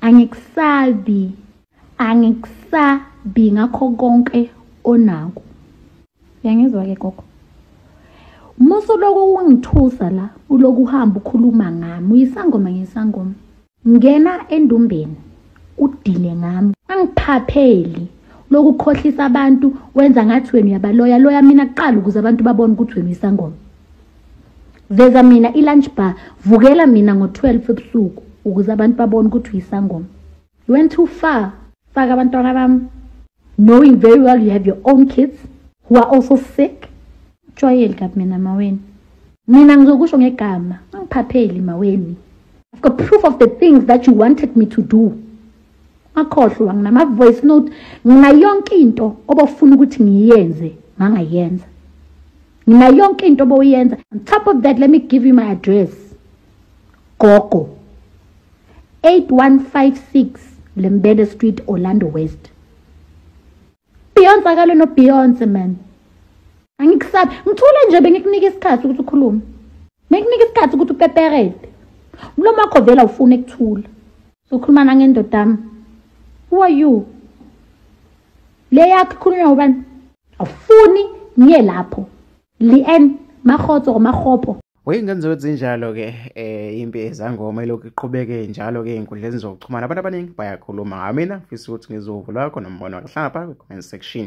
angikusabi angikusabi ngakho konke onako yangizwa ke gogo musu lokhu kungithusa la uloku uhamba ukhuluma ngami uyisangoma ngisangoma ngena endumbeni udile ngami angiphapheli lokukhohlisa abantu wenza ngathi wena uyabaloya loya mina kuqala ukuze abantu babone ukuthi wena uyisangoma veza mina i-lunch bar vukela mina ngo-12 ebusuku ukuze abantu babone ukuthi uyisangoma you went too far faka abantwana bami knowing very well you have your own kids who are also sick jwayeli kabi mina maweni mina ngizokusho ngegama angiphapheli maweni I've got proof of the things that you wanted me to do akhohlwa nginama-voice note nginayonke into obofuna ukuthi ngiyenze ngangayenza nginayonke into obowuyenza on top of that let me give you my address gogo 8156 lembele street orlando west Beyonce akalo no Beyonce man. Angikusabi. Ngithule nje bengikunika isikhathi ukuthi ukhulume. Bengikunika isikhathi ukuthi upeperede. Umlomo wakho vela ufuna ukuthula. Sokhuluma nangendoda yami. Who are you? Le yakho khulunywa ubani? Awufuni ngiye lapho. Lien makhotso makhopho. Weyingane zokuzinjalo-ke um eh, impi ezangoma ilokhu iqhubeke njalo-ke ey'nkundleni zokuxhumana abantu abaningi bayakhuluma ngamina fisa ukuthi ngizowuvo lwakho nombono wakuhlapha kwi-comment section